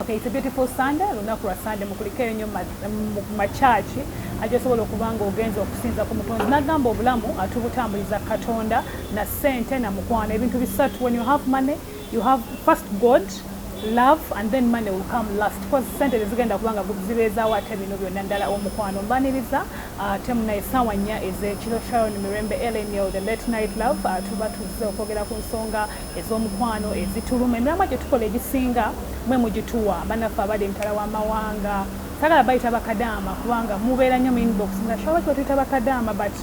Okay, it's a beautiful Sunday, lunaku lwa Sunday mukulikeyo nnyo makyaki agyosobola okuba nga ogenza okusinza ku mutonzi nagamba obulamu atubutambuliza katonda na sente na mukwano ebintu bisatu when you have money you have first god love and then money will come last because sente tezigenda kubanga zibeezawo ate bino byonna ddala omukwano mbaniriza ate uh, munaye saawa nnya ezekiro sharon mirembe lnl the late night love uh, tuba tuzze okwogera ku nsonga ez'omukwano ezituluma emiramwa gye tukola egisinga mwe mugituwa banaffe abali emitala w'amawanga sagala bayita bakadaama kubanga mubeera nnyo mu inbox nga shaba kiba tuyita bakadaama but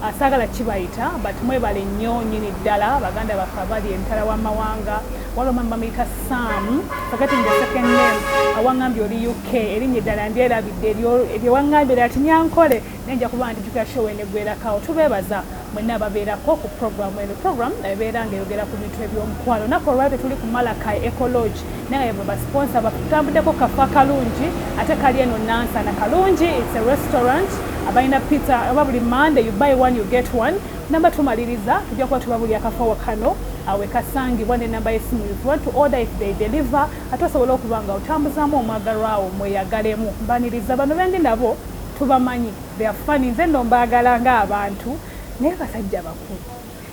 uh, sagala kibayita but mwebale nnyo nyini ddala baganda baffe abali emitala w'amawanga waliwo mama bamuyita sam forgetting the second name awangambye oli uk erinnya eddala ndyerabidde eryewangambe lati nyankole naye nja kuba ndijukira show enegwerakawo tubeebaza Mwenna ababeerako ku pulogulaamu eno. Pulogulaamu ebeera ng'eyogera ku bintu eby'omukwano. Nnaku olwaliro tetuli ku Malakai Eco Lodge naye nga yebwe basiponsa baffe. Tutambuddeko kafo akalungi ate kali eno Nansana. Kalungi, it's a restaurant. Abalina pizza oba buli Monday you buy one you get one. Nnamba tumaliriza tujja kuba tubabulira kafo wa kano we kasangibwa n'ennamba y'essimu if you want to order if they deliver ate osobola okuba nga otambuzaamu omwagalwa wo mweyagalemu. Mbaniriza bano bendi nabo tubamanyi. They are funny nze no mbagala nga abantu naye basajja bakulu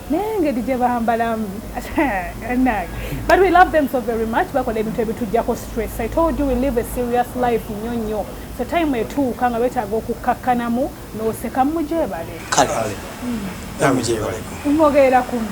naye engeri gye bambalamu but we love them so very much bakola ebintu ebitujjako stress i told you we live a serious life nnyo nnyo so time etuuka nga betaaga okukkakkanamu n'oseka mujebale kale mwogerera kumu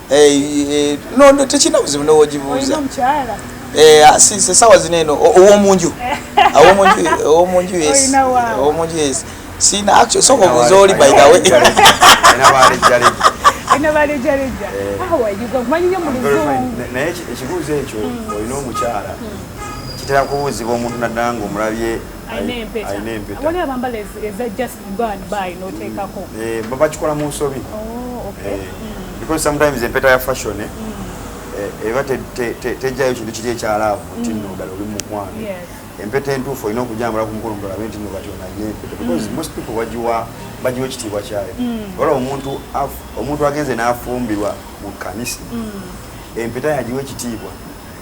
no tekirina buzibu nowogibuuza Eh, ah, si se sawa zineno owo munju awo munju owo munju yes owo munju yes si na actually so kwa zoli by the way ina bali jali ina bali jali ja awa yuko manyi nyo mulizungu na yechi ekibuze echo oyino muchara kitera kubuzi bo muntu nadango mulabye waliwo abambala eza just go and buy noteekako mm. eh, babakikola mu nsobi oh, eh, mm. because sometimes empeta ya fashion eh, mm. eba tejjayo kintu kiri ekyalaavu nti nno ddala oli mukwano empeta entuufu olina okujambula ku mukono mulabe nti nno kati onalina empeta because most people bagiwa bagiwa ekitiibwa kyayo ola omuntu omuntu agenze n'afumbirwa mu kanisa empeta yagiwa ekitiibwa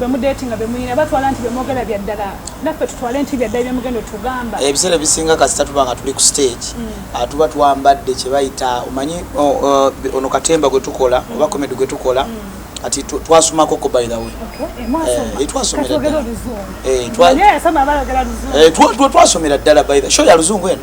bemudetinga bemuyina batwala nti bemwogera byaddala naffe tutwale nti byaddala byemugenda otugamba ebiseera ebisinga kasita tuba nga tuli ku stage mm. ah, tuba twambadde kyebayita omanyi ono katemba gwetukola mm. oba komedi gwetukola mm. ati twasomako ko by the way twasomera ddala by the show ya luzungu eno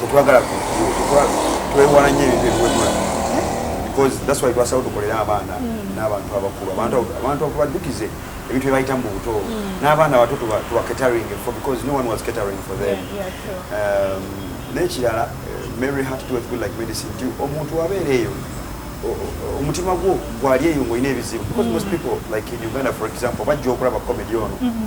tetwagala twewala nyo ebintu ebiwemula because that's why twasawo tukolera abaana mm. n'abantu abakulu abantu okubadukize ebintu byebayitamu mu buto mm. n'abaana abato tuba catering for because no one was catering for them um, n'ekirala eh, mary heart to good like medicine ti omuntu wabeera eyo omutima gwo gwali eyo ng'olina ebizibu because mm. most people like in uganda for example bajja okulaba comedy ono mm-hmm.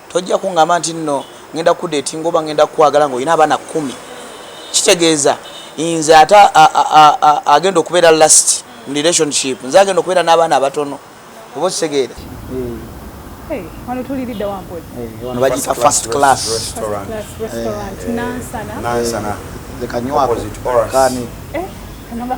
Tojja kungamba nti nno ngenda kukudetinga oba ngenda kukwagala nga olina abaana kumi. Kitegeeza nze ate agenda okubeera last mu relationship nze agenda okubeera n'abaana abatono oba okitegeera. Hey, wano tulilidde wa mpozi. Hey, eh, wano bagita first class restaurant. First class restaurant. Hey, eh, Nansana. Nansana. The Kanywa opposite Oras. Kani. Eh, kanaba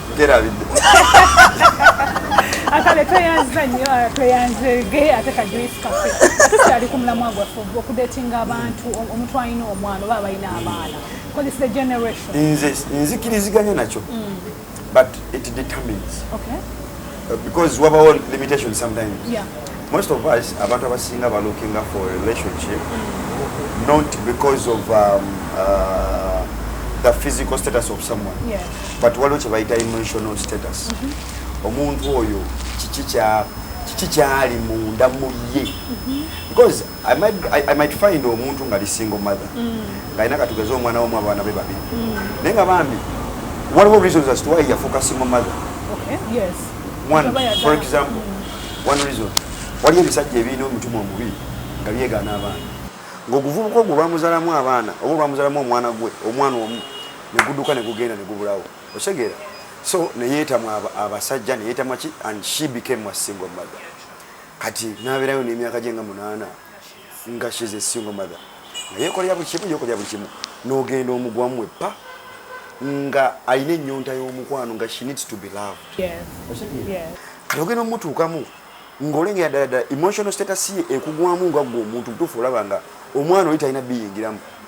nkerabidde akale tweyanziza nnyo ah, tweyanzege ate kajuisi kafe tukyali ku mulamwa gwaffe okudetinga abantu omuntu alina omwana oba abalina abaana nze nzikiriziganya nakyo mm. but it determines okay. because wabawo limitation sometimes yeah. most of us abantu abasinga ba looking up for a relationship mm. not because of um, uh, the physical status of someone yeah. but waliwo kyebayita emotional status mm -hmm. omuntu oyo kiki kya kiki kyali munda mu ye mm-hmm. because I might, I, I might find omuntu nga li single mother mm. nga alina katugeze omwana wamu abaana be babiri mm. naye nga bambi waliwo reasons as to why yafuuka single mother okay, yes. one for example mm. one reason waliyo ebisajja ebirina omutima omubi nga byegaana abaana ngaoguvubuka ogwo lwamuzalamu abaana oba olwamuzalamu omwana gwe omwana omu neguduka negugenda negubulawo osegeera so neyeetamu abasajja neyeetamu ki and she became a single mother kati naberayo nemyaka gye nga munaana nga she's a single mother naye ekolera buli kimu yokolera buli kimu nogenda omugwamu epa nga alina ennyonta y'omukwano nga she needs to be loved kati ogenda omutuukamu ng'olengera ddala ddala emotional status ye ekugwamu nga gwe omuntu mutuufu olaba nga omwana oli talina biyingiramu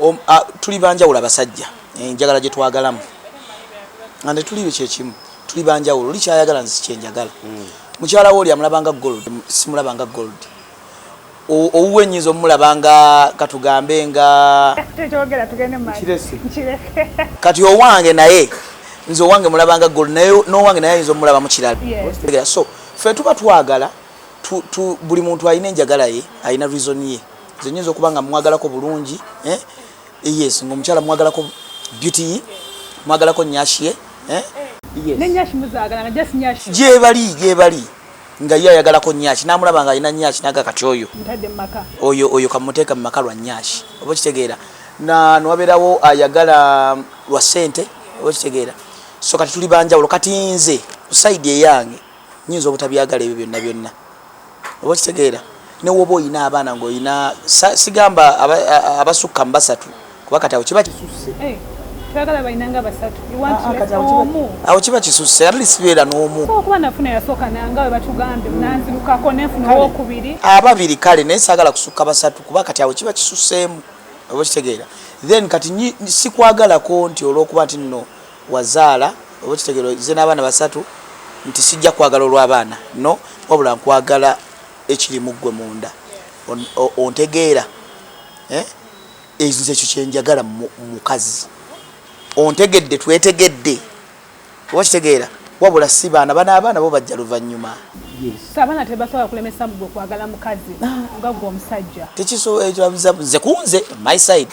um, tuli banjawulo abasajja enjagala eh, gyetwagalamu nga netuli kyekimu tuli banjawulo oli kyayagala nzi kyenjagala hmm. mukyala wo oli amulabanga gold simulabanga gold owuwe nyinza omulabanga katugambe nga kati owange naye nze owange mulabanga gold naye nowange naye ayinza omulaba mukirala so fe tuba twagala buli muntu alina enjagala ye alina reason ye nze nyinza okuba nga mwagalako bulungi eh? yes nga omukyala mwagalako beauty mwagalako nyashie eh? gyebali gyebali nga ye ayagalako nyaki namulaba nga alina nyaki naga kati oyo oyo oyo kamuteeka mu maka lwa nyaki oba okitegeera nwabeerawo ayagala um, lwa sente oba okitegeera so kati tuli banjawulo kati nze kusaidi eyange nyinza obutabyagala ebyo byonna byonna oba okitegeera ne woba olina abaana ngaolina sigamba abasukka mu basatu kuba kati awo kiba kisusse eh, awo kiba kisusse at least beera n'omu ababiri kale naye saagala kusukka basatu kuba kati awo kiba kisusseemu oba okitegeera then kati sikwagalako nti olwokuba nti nno wazaala oba okitegera ozze n'abaana basatu nti sijja kwagala olw'abaana no wabula nkwagala ekiri mu ggwe munda ontegeera eh? nze ekyo kyenjagala mukazi ontegedde twetegedde oba kitegeera wabula si baana bana abaana bo bajja luvannyuma abaana tebasobola kulemesa mugwe okwagala mukazi ah. nga gwe omusajja tekisobola ekyo nze kunze my side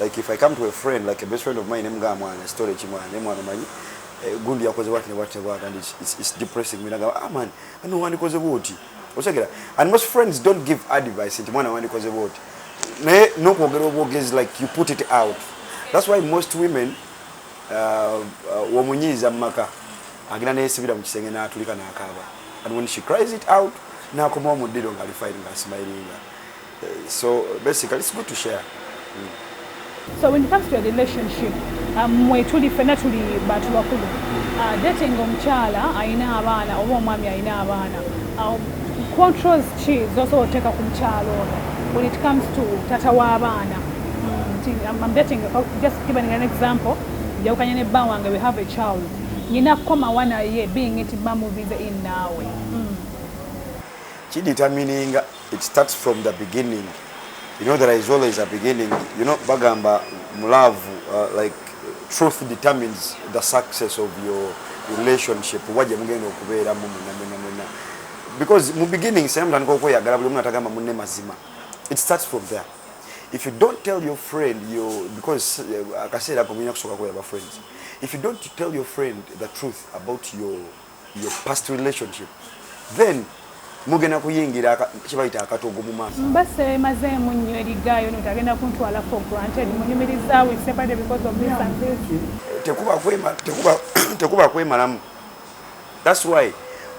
like if i come to a friend like a best friend of mine nemugamba mwana story kimwana ne mwana manyi eh, gundi yakoze what ne what ne what and it's, it's, it's depressing me nagamba ah man ani wandikoze bwoti osegera and most friends don't give advice nti mwana wandikoze bwoti naye nokwogera obwogezi like you put it out that's why most women uh, uh, womunyiiza mu maka agenda neyesibira mu kisenge n'atulika n'akaaba and when she cries it out n'akomawo mu ddiro ng'ali fayiri ng'asimayiringa so basically it's good to share mm. so when it comes to a relationship um, mwe tuli fena tuli bantu bakulu uh, dating omukyala ayina abaana oba omwami ayina abaana um, controls ki zosobola oteeka ku mukyalo ono when it comes to tata w'abaana mm, I'm dating, oh, just giving an example njawukanye ne bba wange we have a child nyina kukomawa naye being nti bamuvize in naawe mm. kiditamininga mm. It starts from the beginning. You know there is always a beginning. You know bagamba mu love uh, like truth determines the success of your relationship waje mugenda okubeera mu muna muna muna because mu beginning same than koko yagala buli muna tagama munne mazima it starts from there if you don't tell your friend you because uh, akaseera ko muyina kusoka ko yaba friends if you don't tell your friend the truth about your your past relationship then mugenda kuyingira kibayita akatogo mu maaso mba semazeemu nnyo erigaayo no tagenda kuntwala for granted munyumiriza we separated because of this and this tekuba kwema tekuba tekuba kwemalamu that's why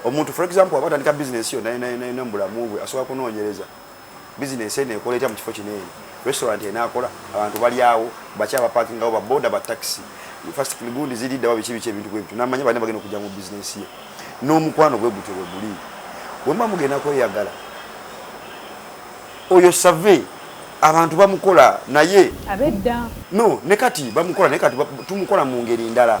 omuntu for example abatandika business yo naye naye naye mbulamu bwe asobola kunoonyereza bizinensi eno ekola etya mu kifo kino eno restaurant enaakola abantu balyawo baki abapakingawo baboda batakisi fast gundi ziriddawa biki biki ebintu bwebityo namanya balina bagenda okujja mu bizinensi ye n'omukwano gwe gutyo bwe guli bwemuba mugenda kweyagala oyo save abantu bamukola naye abedda no ne kati bamukola naye kati tumukola mu ngeri ndala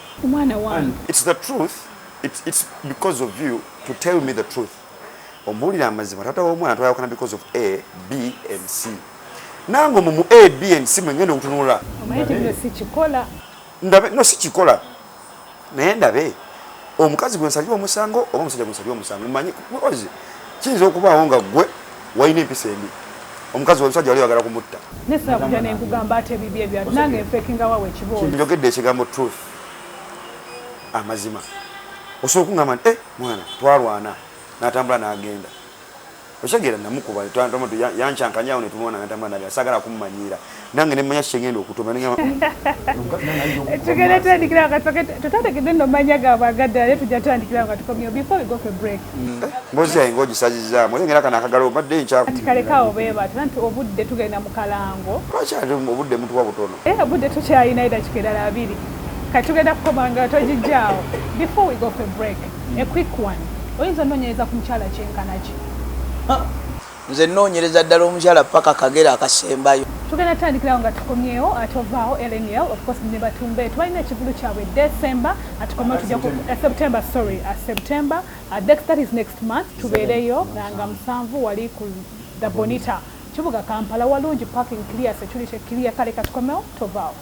omwana wange it's the truth it's, it's because of you to tell me the truth omubuulira amazima taata w'omwana twayawukana because of a b and c nange omu mu a b and c mwengenda okutunula ndabe no sikikola naye ndabe omukazi gwe nsalira omusango oba omusajja gwe nsalira omusango manyi kiyinza okubaawo nga gwe Wayina empisa embi. Omukazi wa musajja wali wagala kumutta. Ne sina kuja ne nkugamba ate bibye bya nange mfekinga wawe kiboyo. Njogedde ekigambo truth. Amazima. Osobola okungamba nti eh mwana twalwana n'atambula n'agenda. Okitegera namukuba twantama tu yanchankanya awo ne tumwona n'atambula n'agenda sagala kummanyiira. nange nemanya kyengenda okutomatugenda tandikira nga tutategedde no manya gabagadde naye tujja tandikira nga tukomyewo before we go for break mm. eh, mbozi yaye nga ogisazizaamu oye ngera kana akagala obadde nkyaati kalekawo beebata nti obudde tugenda mu kalango lwakyali obudde mutuwa butono e obudde tukyalina eda kikedala abiri kati tugenda kukoma nga togijjaawo before we go for break a quick one oyinza ononyereza ku mukyala kyenkanaki Nze nnoonyereza ddala omukyala ppaka kagere akasembayo. Tugenda tutandikirawo nga tukomyewo ate ovaawo lnl of course ne batumbe tubalina ekivulu kyabwe december atukomewo tujja ku eh, september sorry uh, september uh, next, that is next month tubeereyo nga musanvu wali ku the bonita kibuga kampala walungi parking clear security clear kale katukomewo tovaawo